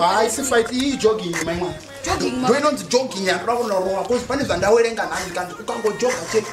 haisi fight iyi jogging maimwa ndoinonzi jogging yandoda kunorowa bcause pane zvandawerenga nhazikandi ukangojoga chete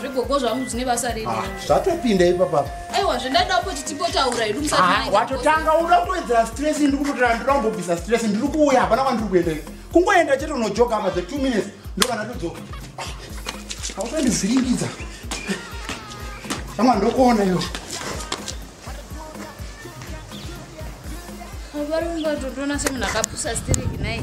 zvigogo zvangu zvine basa rei ah, zvatopinda ipapa aiwa zvendada kuti timbotaura hedu musawatotanga ah, uda kutoedzera stress ndiri kutotora ndira kumbobvisa stress ndiri kuuya hapana kwandiri kuenda kungoenda chete unojoka apa the two minutes ndokana todzoka hausandivhiringidza ama ndokuona iyo varungatotona semunhu akapusa stereki nai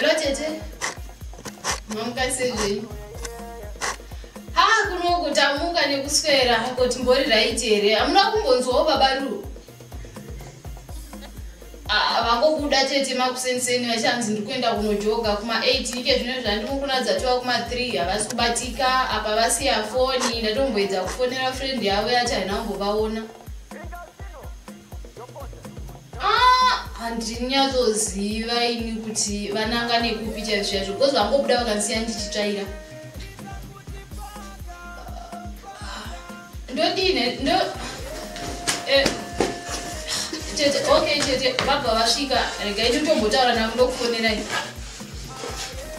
Hello tete. Mamuka sei? Ha kuno kutamuka nekuswera hako timbori right here. Amuna kumbonzwawo baba Ru. Ah vangobuda tete makusenseni vachanzi ndikuenda kunojoga kuma 8 ike zvino zvandimukunadza tova kuma 3 havasi kubatika apa vasiya foni ndatomboedza kufonera friend yavo yati haina kumbovaona. handinyatsoziva ah, ini kuti vananga nekupi chaizvo chaizvo because vangobuda vakandisiya ndichitsvaira ndodine ndo eh, tete okay tete vabva vasvika regai nditombotaura navo ndokufonerai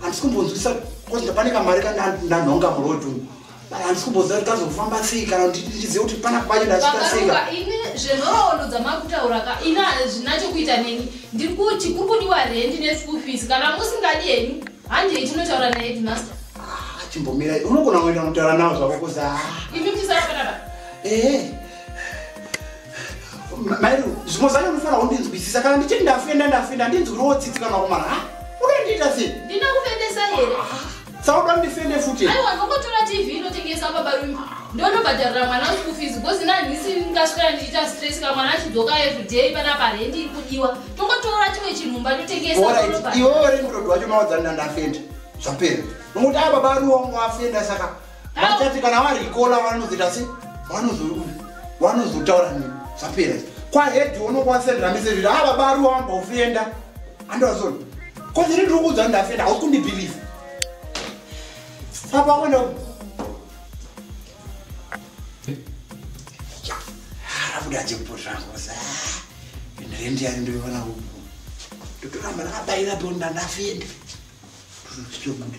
handisi kumbonzwisa bcause ndapane kamari kandanhonga muroad umu handisi kumbonzwa kuti kazofamba sei kana kuti ndizive kuti pana kwacho ndachiita seika ini zvenhoroondo dzamakutaura ka ini hazvina chokuita neni ndiri kuti kuri kudiwa rendi neschool fees kana musingadi henyu handei tinotaura naheadmaster ah, chimbomira unogona kuenda kutaura navo zvako kuza ah. imi muchisara panapa ehe eh. mairo zvimwe zvacho unofanira kundinzwisisa kana ndichiti ndafenda ndafenda handinzwiriwo tsitsi kana kumara ha unondiita sei ndina kufendesa here sauda kundifende futi aiwa ndokotora tv inotengesa babarume ndonobhadharira mwana school fees because nanhisi ndingasvikana ndichiita stress ka mwana achidzoka everyday pana parendi iri kudiwa tongotora chimwe chinhu mba totengesaiwewe uri murodo wacho mawadzanina ndafenda zvapera nokuti aya baba ariwo wangu afenda saka vachati kana varikola vanozoita se vanozotaura nini zvapera kwahedhi unokwanisa ndiramise zviri ava ah, bari wamba ufenda andozona kozini ndiri kuudza ndafenda hausi kundibhiliva apa kwenda arabuda jekupo zvangu ndirendi yari ndoiona uku ndotoramba ndakabaira bonda ndafenda ndotobuda